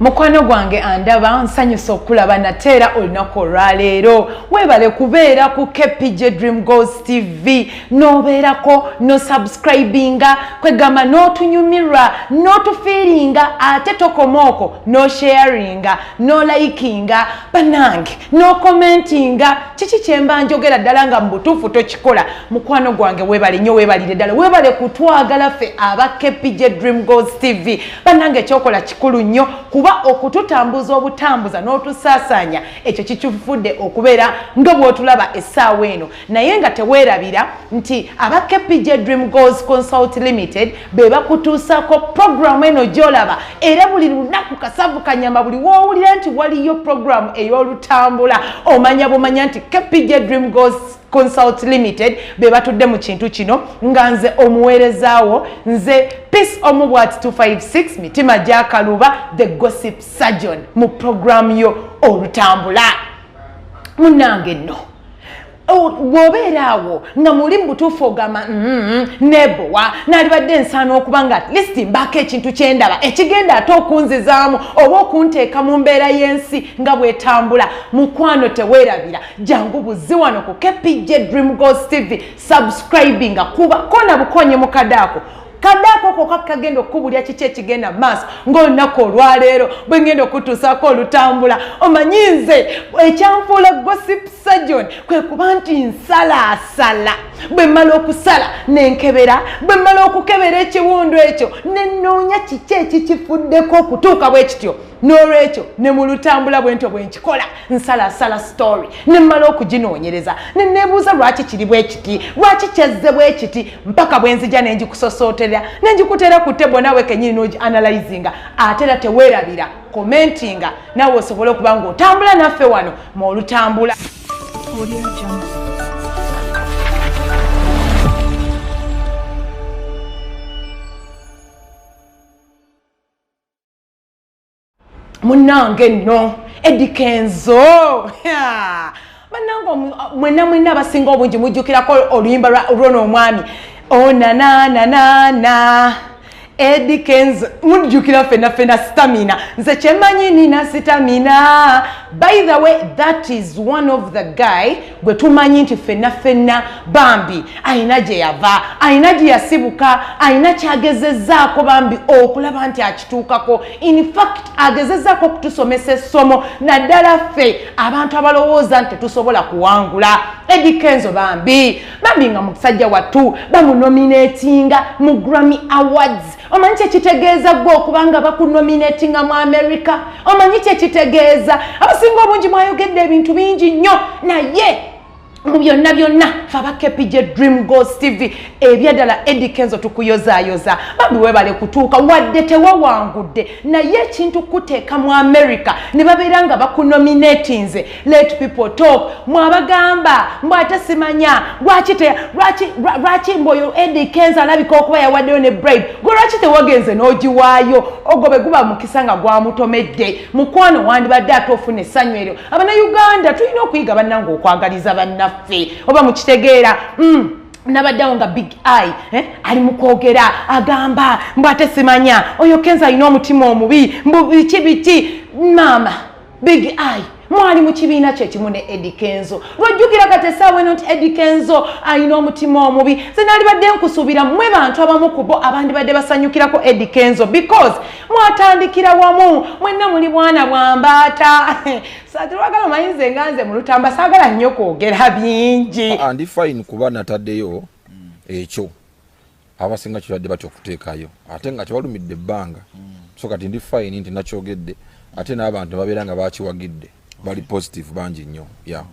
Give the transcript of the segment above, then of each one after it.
mukwano gwange andaba nsanyusa okulaba nate era olunaku olwaleero webale kubeera ku kpj dream gos tv nobeerako nosubscribinga kwegamba notunyumirwa notufiiringa ate tokoma oko nosharinga nolikinga banange nokomentinga kiki kyemba njogera ddala nga mubutuufu tokikola mukwano gwange webale nyo webalire ddala webale kutwagala ffe aba kpj dream gos tv bannange ekyokola kikulu nnyo kuba okututambuza obutambuza n'otusaasaanya ekyo kikifudde okubeera nga bw'otulaba essaawa eno naye nga teweerabira nti aba kpj dream goals consult limited be bakutuusaako puroguramu eno gy'olaba era buli lunaku kasavu kanyama buli woowulira nti waliyo puroguramu ey'olutambula omanya bumanya nti kpj dream goals consult limited be batudde mu kintu kino nga nze omuweerezaawo nze peace omu bwati 256 mitima gyakaluba the gossip surgeon mu programu yo olutambula munange nno bwobeera awo nga muli mu butuufu ogamba mm-hmm, nebowa nalibadde ensaana okuba nga atlist mbaako ekintu kyendaba ekigenda ate okunzizaamu oba okunteeka mu mbeera y'ensi nga bwetambula mukwano teweerabira jangu buzzi wano ku kpj dream gos tv subscribinga kuba kona bukonye mu kadaako kadaako koka kagenda okukubulya kiki ekigenda maaso ngaolunaku olwaleero bwe ngenda okutuusaako olutambula omanyi nze ekyanfuula gosip sajon kwe kuba nti nsalaasala bwe mmala okusala nenkebera bwe mmala okukebera ekiwundu ekyo nenoonya kiki ekikifuddeko okutuuka bwe kityo n'olwekyo ne mu lutambula bwentyo bwe nkikola nsalaasala sitoori ne mmala okuginoonyereza ne neebuuza lwaki kiri bwe kiti lwaki kyazze bwe kiti mpaka bwe nzija ne ngikusosooterera ne ngikuteera ku tebo naawe kennyini n'ogianalyzinga ate era teweerabira komentinga naawe osobole okuba ng'otambula naffe wano mu olutambula munange no edikenzo banange mwena mwena abasinga obungi mujjukirako oluyimba lwona omwami onanananana oh, edikenzo mujjukira fena fena stamina nze kyemanyi nina stamina by the way that is one of the guy gwe tumanyi nti ffenna ffenna bambi alina gye yava alina gye yasibuka alina kyagezezzaako bambi okulaba nti akituukako infact agezezzaako okutusomesa essomo naddala ffe abantu abalowooza nti tetusobola kuwangula edikenzo bambi bambi nga musajja wattu bamunomineetinga mu grammy awards omanyi kyekitegeeza gwe okuba nga bakunominatinga mu amerika omanyi kyekitegeeza abasinga obungi mwayogedde ebintu bingi nnyo naye mu byonna byonna fe abakepij dream gos tv ebyaddala edikenzo tukuyozayoza bambi webale kutuuka wadde tewawangudde naye ekintu kuteeka mu amerika ne babeera nga bakunominatinze let people talk mwabagamba mbu ate simanya lwaki te lwaki lwaki mbu oyo edi kenza alabika okuba yawaddeyo ne bride gwe lwaki tewagenze n'ogiwaayo ogwo bwe guba mukisa nga gwamutomedde mukwano wandibadde ate ofuna essanyu eryo abanauganda tulina okuyiga bannanga okwagaliza bannaffe oba mukitegeera mm. nabaddewo nga big eye eh? ali mukwogera agamba mbu ate simanya oyo kenza alina omutima omubi mbu biki biki maama big eye mwali mu kibiina kye kimu ne edi kenzo lwojjukira kati essaawa eno nti edi kenzo alina omutima omubi ze nalibadde nkusuubira mwe bantu abamu ku bo abandibadde basanyukirako edi kenzo because mwatandikira wamu mwenna muli bwana bwa mbaata satirwagala omayinze nga nze mu lutamba saagala nnyo kwogera bingi ah, ndi fine kuba nataddeyo ekyo abasinga kirwadde batya okuteekayo ate nga tebalumidde ebbanga mm. so kati ndi fine nti nakyogedde ate n'abantu babeera nga bakiwagidde bali positive bangi nnyo ya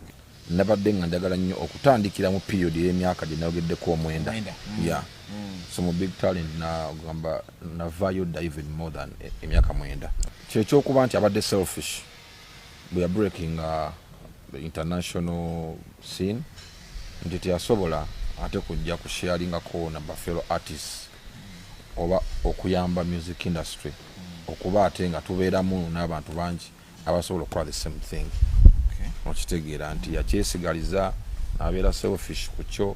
nabadde nga njagala nnyo okutandikira mu period ey'emyaka gye nayogeddeko omwenda mm. ya mm. so mu big talent nagamba navayo diven more than e, emyaka mwenda kyekyokuba nti abadde selfish bwe ya breaking uh, the international scene nti teyasobola ate kujja ku sharingako na bafelo artists oba okuyamba music industry okuba ate nga tubeeramu n'abantu bangi abasobola okukola the same thing okitegeera nti yakyesigaliza nabeera selfish ku kyo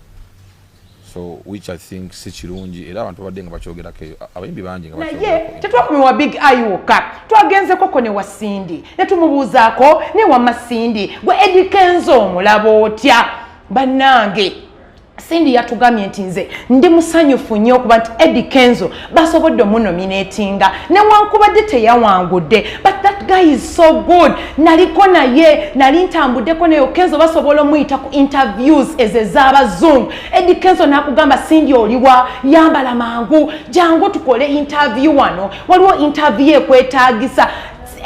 so which i think si kirungi era abantu babadde nga bakyogerako eyo abayimbi bangi nga naye tetwakumiwa big eye wokka twagenzeekoko ne wasindi ne tumubuuzaako ne wamasindi gwe edikenza omulabo otya bannange sindi yatugamye nti nze ndi musanyufu nnyo okuba nti edi kenzo basobodde omunominatinga newankubadde teyawangudde but that guy is so good naliko naye nali ntambuddeko naye kenzo basobola omuyita ku interviews ezo ez'abazungu edi kenzo nakugamba sindi oliwa yambala mangu jangu tukole interview wano waliwo interview ekwetagisa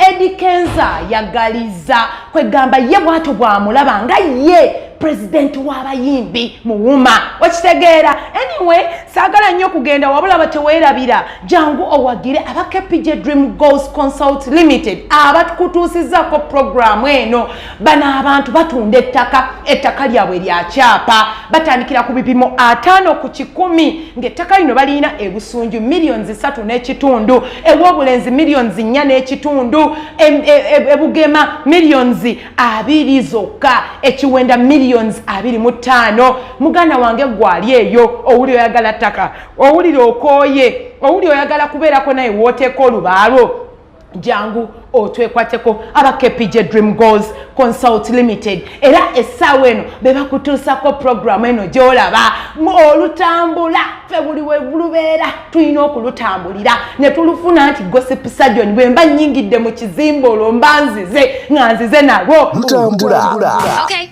Eddie Kenza yagaliza kwegamba ye bwato bwamulaba nga ye president w'abayimbi muwuma okitegeera anyway saagala nnyo kugenda wabula bateweerabira jangu owagire aba kpj dream goals consult limited abakutuusizaako programu eno bano abantu batunda ettaka ettaka lyabwe lya kyapa batandikira ku bipimo ataano ku kikumi ng'ettaka lino balirina ebusunju millions satu n'ekitundu ew'obulenzi millions nnya n'ekitundu e, e, e, ebugema millions abiri zokka ekiwenda millions abiri mu ttaano muganda wange gwali eyo owuli oyagala ttaka owulira okooye owuli oyagala kubeerako naye wooteeka olubaalwo jangu otwekwateko aba kpj dream goals consult limited era essaawa eno be bakutuusako puroguramu eno gy'olaba olutambula fe buli webulubeera tulina okulutambulira ne tulufuna nti gosip sajoni bwe mba nnyingidde mu kizimba olwo mba nzize nga nzize nalwo lutambula okay.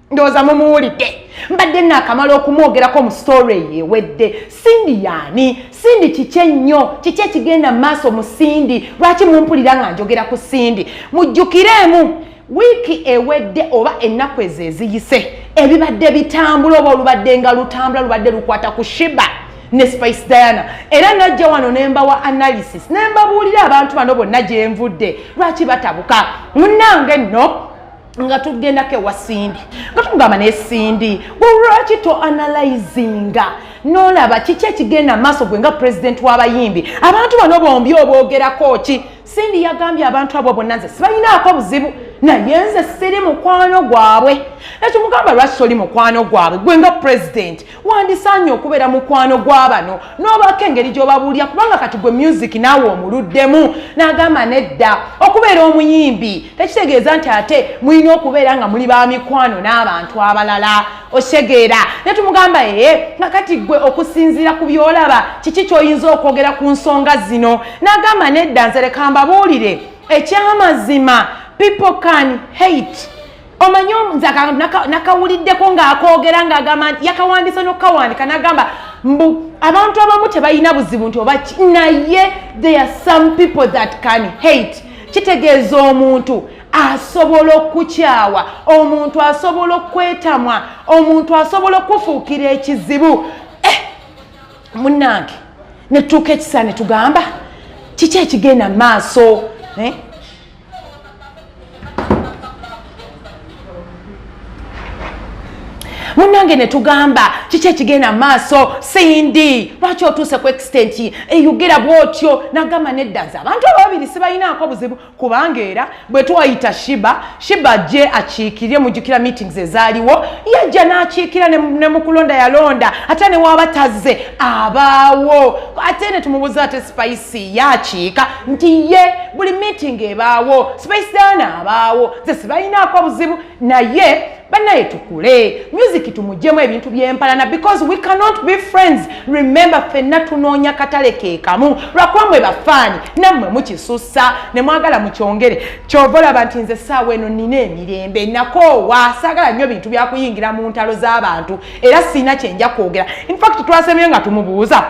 ndowooza mumuwulidde mbadde naakamala okumwogerako mu sitore eyo ewedde sindi yaani sindi kiki ennyo kiki ekigenda mu maaso mu sindi lwaki mumpulira nga njogera ku sindi mujjukireemu wiiki ewedde oba ennaku ezo eziyise ebibadde bitambula oba olubadde nga lutambula lubadde lukwata ku shiba ne spice diana era najja wano nembawa analysis nembabuulira abantu bano bonna gyenvudde lwaki batabuka munange nno nga tugendako ewa sindi nga tumugamba naye sindi lwaki to analyzinga nolaba kiki ekigenda maaso gwe nga pulezidenti w'abayimbi abantu bano bombi obwogerako ki sindi yagambye abantu abo bonna nze sibalinaako buzibu naye nze siri mukwano gwabwe ekyo mugamba lwaki toli mukwano gwabwe gwe nga pulezidenti wandisaanye okubeera mukwano gwa bano n'obaako engeri gy'obabuulira kubanga kati gwe myuziki naawe omuluddemu n'agamba nedda okubeera omuyimbi tekitegeeza nti ate mulina okubeera nga muli ba mikwano n'abantu abalala osegeera ne tumugamba ee nga kati gwe okusinziira ku by'olaba kiki ky'oyinza okwogera ku nsonga zino n'agamba nedda nze leka mbabuulire ekyamazima people can hate omanyi nze nakawuliddeko ng'akoogera ng'agamba nti yakawandiisa n'okukawandika n'agamba mbu abantu abamu tebalina buzibu nti oba ki naye there are some people that can hate kitegeeza omuntu asobola okukyawa omuntu asobola okukwetamwa omuntu asobola okufuukira ekizibu eh, munange netutuuka ekisaa ne tugamba kiki ekigenda mu maaso eh? munange netugamba kiki ekigenda maaso sindi lwaki otuuse ku extent eyogera bwotyo nagamba nedda nze abantu ababiri sibalinaako buzibu kubanga era bwe twayita shiba shiba je akiikirire mujukira meetings ezaaliwo yajja n'akiikira ne mukulonda yalonda ate newaaba tazze abaawo ate ne tumubuza ate spice yakiika nti ye buli meeting ebaawo spacedaana abaawo ze sibalinaako buzibu naye banaye tukule music tumugyemu ebintu byempalana because we cannot be friends remember fenna tunoonya katale kekamu lwakuba mwe bafaani nammwe mukisussa ne mwagala mukyongere kyova olaba nti nze saawa eno nina emirembe nakoowa saagala nnyo bintu byakuyingira mu ntalo z'abantu era siina kyenja kwogera infact twasemye nga tumubuuza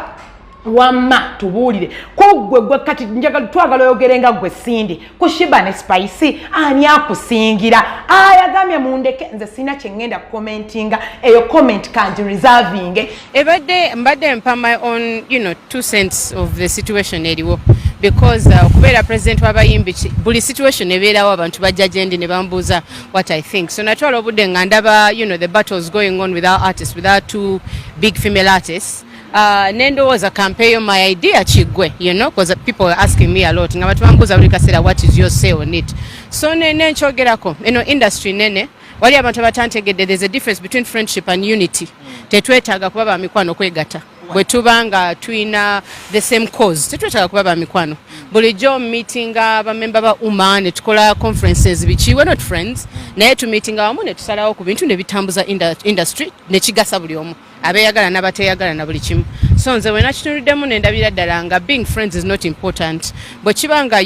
wamma tubuulire kuggwe gwe kati njagala twagala oyogere nga gwe sindi ku shiba ne spice ani akusingira ayagambye mundeke nze sirina kyeŋŋenda kukomentinga eyo comment kangi reservinge ebadde mbadde mpa my own you know, two cents of the situation eriwo because uh, okubeera uh, president wabayimbi buli situation ebeerawo abantu bajja gyendi ne bambuuza what i think so natwala obudde nga ndaba you know, the battles going on with our artists with our two big female artists Uh, nendowooza kampeeyo my idea kiggwe you know because people were asking me a lot nga batubambuuza buli kaseera what is your say on it so nene nkyogerako eno industry nene wali abantu abatantegedde there's a difference between friendship and unity mm. tetwetaaga kuba ba mikwano kwegata bwe tuba nga tulina the same cause tetwetaaga kuba ba mikwano mm. bulijjo meetinga bamemba ba uma ne tukola conferences biki we're not friends mm. naye tumeetinga wamu ne tusalawo ku bintu ne bitambuza industry ne kigasa buli omu abeyagala nabateyagala na buli kimu so nze wena kitunudemu nendabira ddala nga being friends is not important bwekiba nga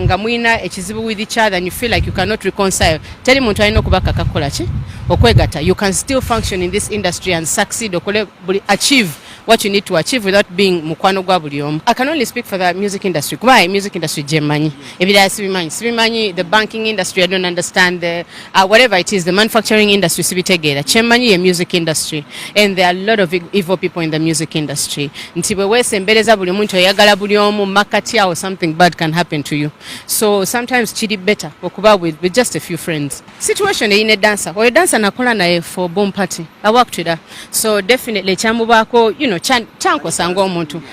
nga mulina ekizibu with each other and you feel like you cannot reconcile teri muntu alina okubakaka kukola ki okwegata you can still function in this industry and succeed okole buli achieve what you need to achieve without being mukwano gwa buli omu i can only speak for the music industry kuba music industry gyemanyi ebirala sibimanyi sibimanyi the banking industry i don't understand the Uh, whatever it is, the manufacturing industry sibitegeera kyemmanyi ye music industry and there are a lot of e-, evil people in the music industry nti bwe weesembereza buli muntu oyagala buli omu makkati awo something bad can happen to you so sometimes kiri better okuba with, with just a few friends situation eyine dansa oyo dansa nakola naye for boom party awakutira so definitely kyamubaako you know kyankosa ng'omuntu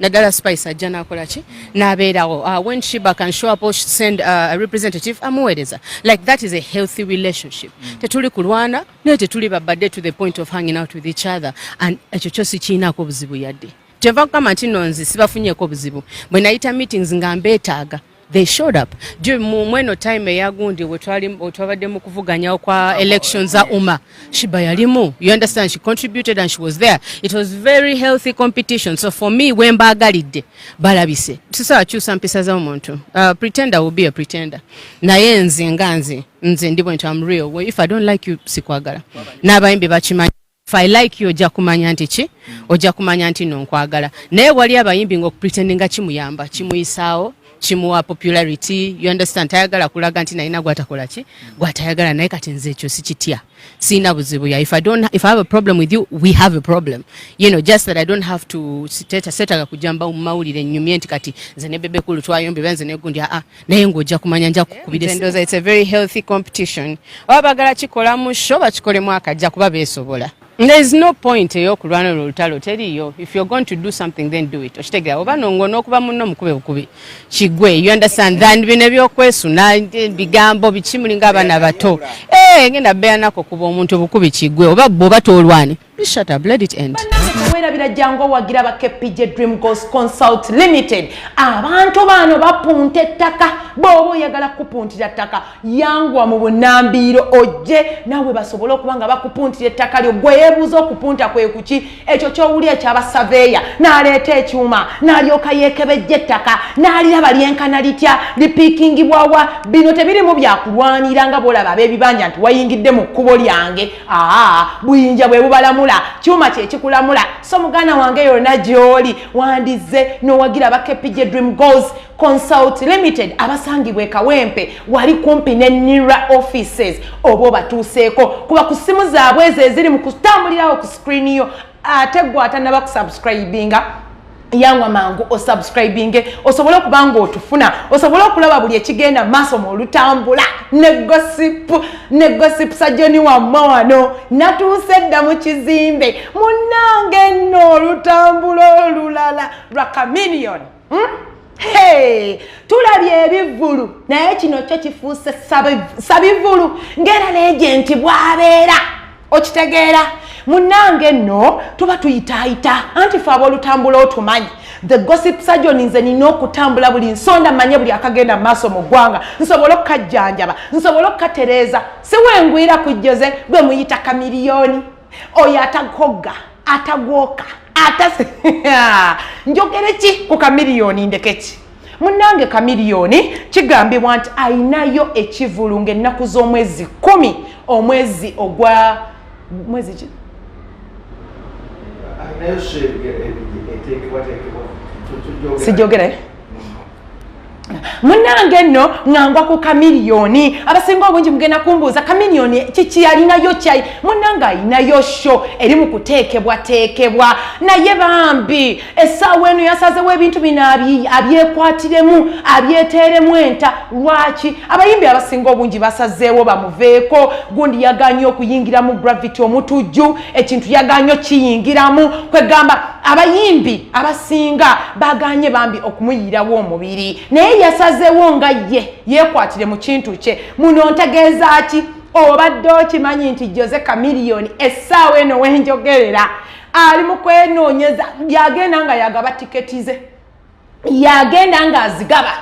naddala spice ajja nakola ki nabeerawo uh, when shiba can show up or send uh, a representative amuweereza like that is a healthy relationship mm. tetuli kulwana naye tetuli babadde to the point of hanging out with each other and ekyo kyo sikiinaako obuzibu yadde kyeva kugamba nti nonzi sibafunyeko obuzibu bwenayita meetings nga mbeetaaga they showed up juu mweno time eyagundi wetwabadde mu kuvuganyawo kwa election za uma shiba yalimu you understand she contributed and she was there it was very healthy competition so for me wembaagalidde balabise sisobola kyusa mpisa za omuntu uh, pretender will be a pretender naye nze nga nze nze ndi bwenti am real if i don't like you sikwagala n'abayimbi bakimanyi if i like you ojja kumanya nti ki ojja kumanya nti no nkwagala naye wali abayimbi ngaokupretendinga kimuyamba kimuyisaawo kimuwa popularity you understand tayagala kulaga nti nalina gwatakola ki gwatayagala naye kati nze ekyo sikitya siina buzibu ya if i don't if i have a problem with you we have a problem you know just that i don't have to setaga kujamba mu mawulire nyumye nti kati nze ne bebe kulu twayombe benze negundi aa ah, ah. naye ng'ojja kumanya nja kukubiraendoza its a very healthy competition oba bagala kikola mu sho bakikolemu akajja kuba beesobola there is no point eyokulwana olwo olutalo teriyo if you're going to do something then do it okitegera oba nongo n'okuba munno mukube bukubi kigwe you understand than bino ebyokwesuna eh, bigambo biki mulinga abaana bato eh, ngenda beyanako kuba omuntu obukubi kigwe oba bwoba tolwani Please shut up, let it end. Weerabira jangu owagira ba KPJ Dream Goals Consult Limited. Abantu bano bapunta ettaka bw'oba oyagala kukupuntira ettaka yangwa mu bunnambiiro ojje naawe basobole okuba nga bakupuntira ettaka lyo gwe yeebuuza okupunta kwe kuki ekyo ky'owuli ekyabasaveeya n'aleeta ekyuma n'alyoka yeekebejja ettaka n'aliraba lyenkana litya lipiikingibwawa bino tebirimu byakulwanira nga bw'olaba ab'ebibanja nti wayingidde mu kkubo lyange aa buyinja bwe bubalamula kyuma kyekikulamula so muganda wange yona gyoli wandizze nowagira aba kpj dream goals consult limited abasangibwa ekawempe wali kumpi ne nira offices oba obatuuseeko kuba ku ssimu zaabwe ezo eziri mu kutambulirawo ku screen yo ate gwatanaba kusubscribinga yangwa mangu osubscribinge osobole okuba nga otufuna osobole okulaba buli ekigenda maaso mu olutambula ne gosipu ne gosipu sajoni wamme wano natuuse dda mu kizimbe munange nno olutambula olulala lwa caminion hmm? hey! tulabye ebivulu naye kino kyo kifuuse sabivulu ngaera neegenti bwabeera okitegeera munange nno tuba tuyitaayita anti fe abolutambula otumanyi the gossip surgeon nze nina okutambula buli nsonda manye buli akagenda maaso mu ggwanga nsobole okukajjanjaba nsobole okukatereeza siwengwira kujjoze gwe muyita kamiliyoni oyo atagogga atagwoka ata njogere ki ku kamiliyoni ndekeki munnange kamiliyoni kigambibwa nti ayinayo ekivulu ngaennaku z'omwezi kumi omwezi ogwa mwezi ki sijogere munange nno ngangwa ku kamiliyoni abasinga obungi mugenda kumbuuza kamiliyoni kiki yalinayo kyayi munange alinayo sho eri mu kuteekebwateekebwa naye bambi essaawa eno yasazewo ebintu bino abyekwatiremu abyeteeremu enta lwaki abayimbi abasinga obungi basazeewo bamuveeko gundi yaganye okuyingiramu gravity omutujju ekintu yaganye okiyingiramu kwegamba abayimbi abasinga baganye bambi okumuyirawo omubiri naye yasazeewo nga ye yekwatire mu kintu kye muno ntegeeza ki obadde okimanyi nti jose camiliyoni essaawa eno wenjogerera ali mu kwenoonyeza yagenda nga yagaba tiketi ze yagenda nga azigaba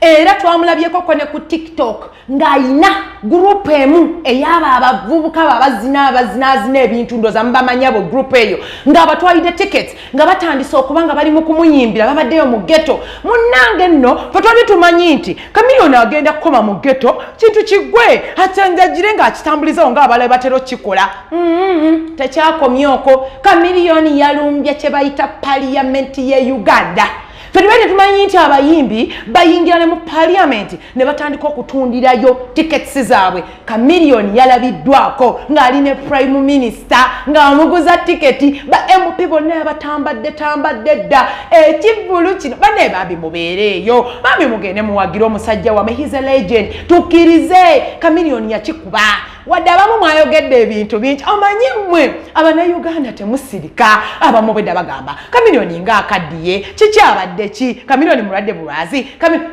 era twamulabyeko kone ku tiktok ng'alina gurupu emu eyaba abavubuka babazina abazinazina ebintu ndoza mubamanyabo gurupu eyo ng'abatwalidde tiketi nga batandise okuba nga bali mu kumuyimbira babaddeyo mu geto munnange nno fe twali tumanyi nti kamiliyoni agenda kukoma mu geto kintu kigwe atanjagire ng'akitambulizawo ng'abalabe batera okukikola mm-hmm. tekyakomye oko kamiliyoni yalumbye kye bayita paliyamenti ye uganda fetubere tetumanyi nti abayimbi bayingira ne mu paliyamenti ne batandika okutundirayo tiketisi zaabwe kamiliyoni yalabiddwako ng'ali ne prime minisita ng'amuguza tiketi ba mp bonna yabatambadde tambadde dda ekivvulu kino bane bambi mubeereeyo bambi mugende muwagire omusajja wame his a legend tukkirize kamiliyoni yakikuba wadde abamu mwayogedde ebintu bingi omanyi mmwe abanauganda temusirika abamu bwedda bagamba kamiliyoni nga akaddiye kikyabadde ki kamiliyoni mulwadde bulwazi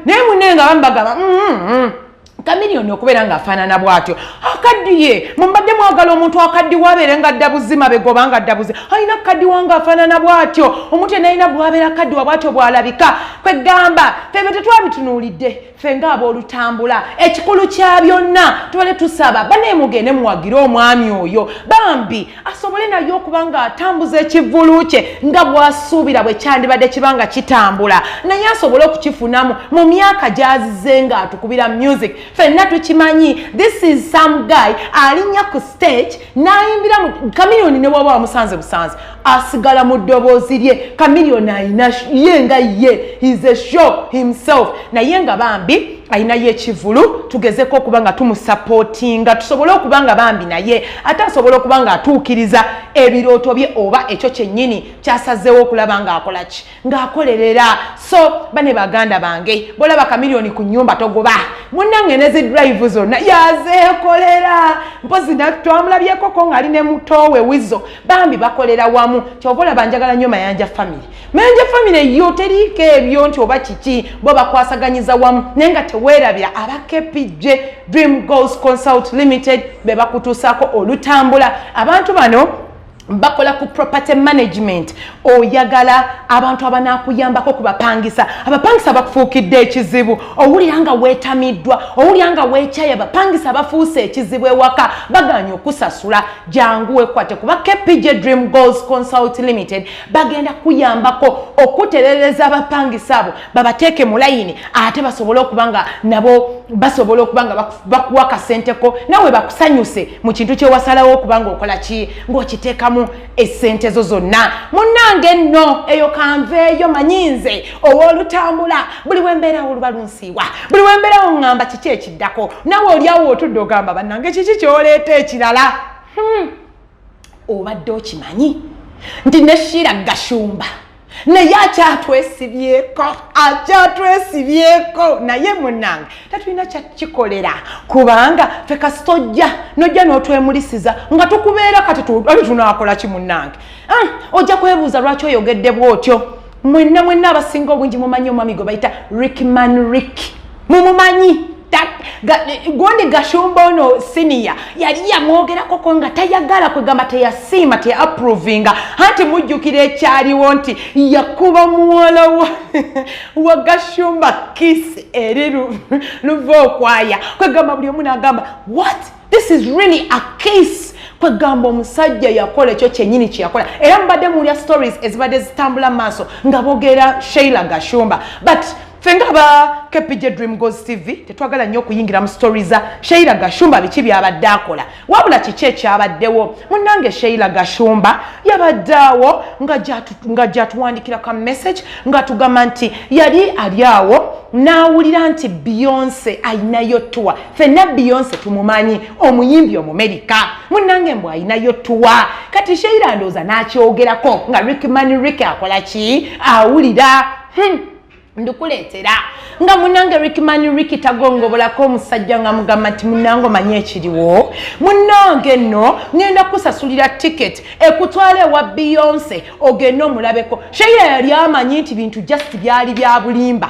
naye munenga abamu bagamba mm, mm, mm. kamiliyoni okubeera ng'afaanana bw'atyo akaddiye mumbadde mwagala omuntu akaddiwa abeere nga dda buzima begoba nga dda buzima alina kukaddiwa ng'afaanana bw'atyo omuntu enalina bwabeera akaddiwa bw'atyo bw'alabika kwegamba febe tetwabitunuulidde ffe ng'aboolutambula ekikulu kya byonna tubadde tusaba banaye mugende muwagire omwami oyo bambi asobole naye okuba nga atambuza ekivvulu kye nga bwasuubira bwe kyandibadde kiba nga kitambula naye asobole okukifunamu mu myaka gyazize nga atukubira music fenna tukimanyi this is some guy alinnya ku stage n'ayimbira mu kamiliyoni ne waba wamusanze busanze asigala mu ddoboozi lye kamiliyoni ayina ye nga ye his a show himself naye nga bambi alinayo ekivulu tugezeko okuba nga tumusapootinga tusobole okuba nga bambi naye ate asobola okuba nga atuukiriza ebirooto bye oba ekyo kyennyini kyasazeewo okulaba ng'akola ki ng'akolerera so bane baganda bange bolaba kamiliyoni ku nyumba togoba munange nezi drive zonna yazeekolera mpozi twamulabyekoko ng'ali ne mutoowe wizo bambi bakolera wamu kyova olaba njagala nnyo mayanja famire naye nje famire yo teriiko ebyo nti oba kiki bo bakwasaganyiza wamu naye nga teweerabira aba kpj dream goals consult limited be bakutuusaako olutambula abantu bano bakola ku property management oyagala abantu abanakuyambako kubapangisa abapangisa bakufuukidde ekizibu owulira nga wetamiddwa owulira nga wekyaya abapangisa bafuuse ekizibu ewaka baganya okusasula jangu wekwate kuba kpj dream goals consult limited bagenda kuyambako okuterereza abapangisa abo babateeke mu layini ate basobole okuba nga nabo basobola okuba nga bakuwa kasenteko nawe bakusanyuse mu kintu kyewasalawo okuba nga okola ki ngaokiteekamu esente zo zonna munange nno eyo kanveeyo manyinze owolutambula buli wembeerawo oluba lunsiiwa buli wembeerawo ngamba kiki ekiddako nawe olyawo otudde ogamba banange kiki kyoleeta ekirala hmm. obadde okimanyi nti ne shiira gashumba naye akyatwesibyeko akyatwesibyeko naye munange tatulina kyakikolera kubanga fe kasita ojja nojja n'otwemulisiza nga tukubeera kati tunakola ki munange ah, ojja kwebuuza lwaki oyogedde bwotyo mwenna mwenna abasinga obungi mumanyi omwami gwe bayita rickman rick mumumanyi gundi gashumba ono siniya yali yamwogerakoko nga tayagala kwegamba teyasiima teyaprovinga anti mujjukira ekyaliwo nti yakuba muwala wa gashumba kisi eri luva okwaya kwegamba buli omu nagamba wat this is really a case kwegamba omusajja yakola ekyo kyenyini kyeyakola era mubadde muwulya stories ezibadde zitambula maaso nga bogeera sheila gashumba but fenga aba kpj dream gos tv tetwagala nnyo okuyingira mu story za sheila gashumba biki byabadde akola wabula kiki ekyabaddewo munange sheila gashumba yabadde awo nga gyatuwandikira ka message nga tugamba nti yali ali awo n'awulira nti beyonce ayinayo tuwa fenna beyonce tumumanyi omuyimbi omumerika munange mbu ayinayo tuwa kati sheira ndooza n'akyogerako nga rickmani rick akola ki awulira hmm. ndikuleetera nga munange rickmani riki tagongobolako omusajja nga mugamba nti munange omanyi ekiriwo munange nno ŋenda kusasulira ticket ekutwala ewa beyonce ogende omulabeko sheira yali amanyi nti bintu just byali bya bulimba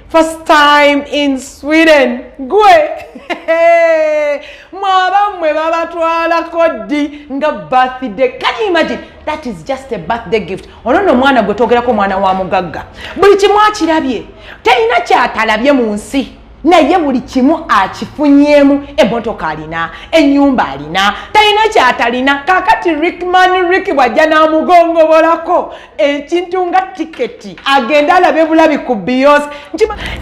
First time in Sweden gwe mwaba mwe babatwalako ddi nga birthday can you imagine that is just a birthday gift ono no omwana gwe twogerako omwana wa mugagga buli kimu akirabye terina kyatalabye mu nsi naye buli kimu akifunyemu emotoka alina enyumba alina talina kyatalina kakati rickman rick bwajja namugongobolako ekintu nga tiketi agenda alabe bulabi ku beyonce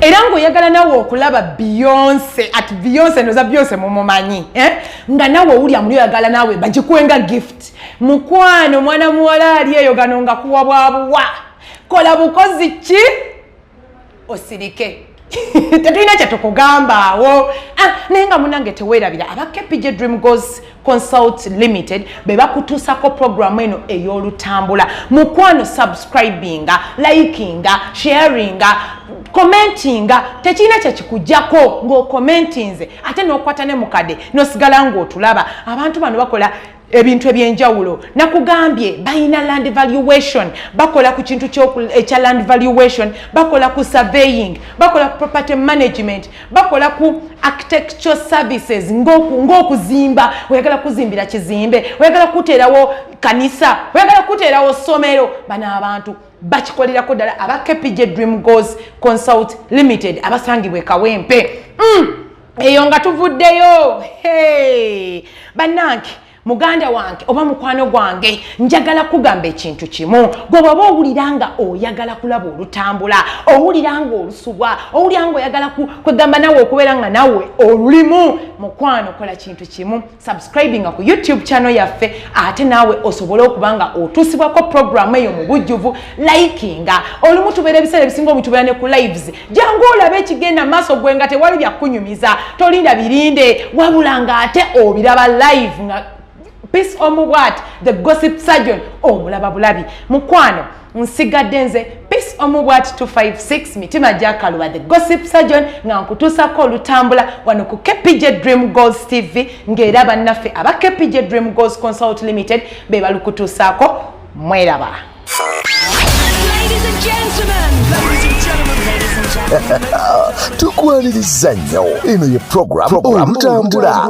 era ngaoyagala nawe okulaba beyonce at beyonce noza beyonce mumumanyi eh? nga nawe owulya muli oyagala nawe bagikuwenga gift mukwano mwana muwala ali eyo gano nga kuwa bwabuwa kola bukozi ki osirike tetulina kyetukugamba awo ah, naye nga munange tewerabira aba kpj dream gos consult limited be bakutuusako programu eno ey'olutambula mukwano subscribinga likinga sharinga commentinga tekirina kyekikujjako ng'okommentinze ate n'okwata ne mukade n'osigala ng'otulaba abantu bano bakola ebintu ebyenjawulo nakugambye balina land valuation bakola ku kintu ekya land valuation bakola ku surveying bakola ku property management bakola ku architectural services ng'okuzimba oyagala kuzimbira kizimbe oyagala kuteerawo kanisa oyagala kuteerawo ssomero bano abantu bakikolerako ddala aba kpj dream goes consult limited abasangibwa ekawempe mm. eyo nga tuvuddeyo hey! bannange muganda wange oba mukwano gwange njagala kugamba ekintu kimu gwe bwaba owulira nga oyagala kulaba olutambula owulira nga olusubwa owulira nga oyagala kwegamba nawe okubeera nga nawe olulimu mukwano kola kintu kimu subscribinga ku youtube channel yaffe ate naawe osobole okuba nga otuusibwako programu eyo mu bujjuvu likinga olumu tubeera ebiseera ebisinga omu tubeera ne ku lives jangu olaba ekigenda maaso gwe nga tewali byakunyumiza tolinda birinde wabula nga ate obiraba live nga peace omubwat the gossip surgeon omulaba bulabi mukwano nsigadde nze peace omu bwati 256 mitima gyakaluba the gossip surgeon nga nkutuusako olutambula wano ku kpj dream goals tv ng'era bannaffe aba kpj dream goals consult limited be balukutuusaako mweraba tukwaniriza nnyo eno ye program olutambula